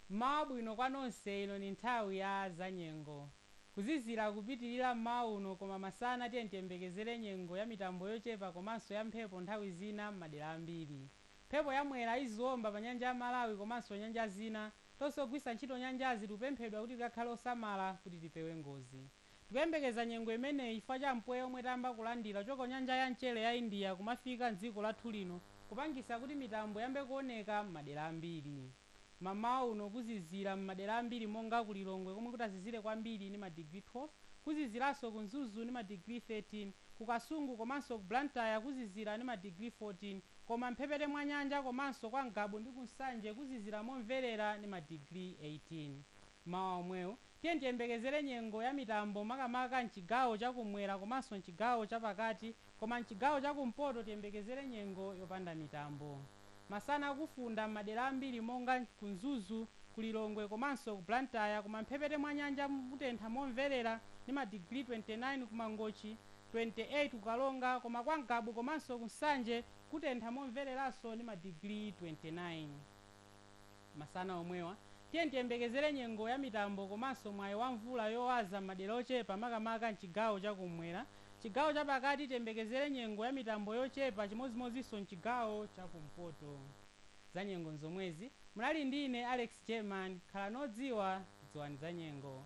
Mmawa wabwino kwa nonse, ino ni nthawi ya za nyengo. Kuzizila kupitilila mmawa uno koma masana tiyeni tiyembekezele nyengo ya mitambo yochepa komanso ya mphepo nthawi zina mmadera ambiri. Mphepo ya Mwera iziomba pa nyanja ya Malawi komanso nyanja zina. Tonse ogwiritsa ntchito nyanjazi tikupemphedwa kuti tikakhale osamala kuti tipewe ngozi. Tikuyembekeza nyengo imeneyi chifukwa cha mpweya omwe tayamba kulandira kuchoka ku nyanja ya mchere ya India kumafika m'dziko lathu lino kupangisa kuti mitambo iyambe kuoneka m'madera ambiri. Mamawa uno kuzizira m'madera ambiri monga ku Lilongwe komwe kutazizire kwambiri ndi madigiri 12, kuziziranso ku Mzuzu ndi madigiri 13, ku Kasungu komanso ku Blantyre kuzizira ndi madigiri 14 koma m'mphepete mwa nyanja komanso kwa Ngabu ndi ku Nsanje kuzizira momverera ndi madigiri 18. Mmawa omwewo, tiyeni tiyembekezere nyengo ya mitambo makamaka m'chigawo cha kumwera komanso m'chigawo cha pakati koma m'chigawo cha kumpoto tiyembekezere nyengo yopanda mitambo. Masana kufunda m'madera ambiri monga ku Mzuzu, ku Lilongwe komanso ku Blantyre koma m'mphepete mwa nyanja kutentha momverera ndi madigiri 29 ku Mangochi, 28 ku Karonga koma kwa Ngabu komanso ku Nsanje kutentha momvereranso ndi madigiri 29. Masana omwewa, tiyeni tiyembekezere nyengo ya mitambo komanso mwayi wa mvula yowaza m'madera ochepa makamaka m'chigawo cha kumwera. Chigawo cha pakati tiyembekezere nyengo ya mitambo yochepa chimodzimodzinso m'chigawo cha kumpoto. Zanyengo n'zomwezi. Munali ndi ine Alex German. Khalani odziwa, dziwani zanyengo.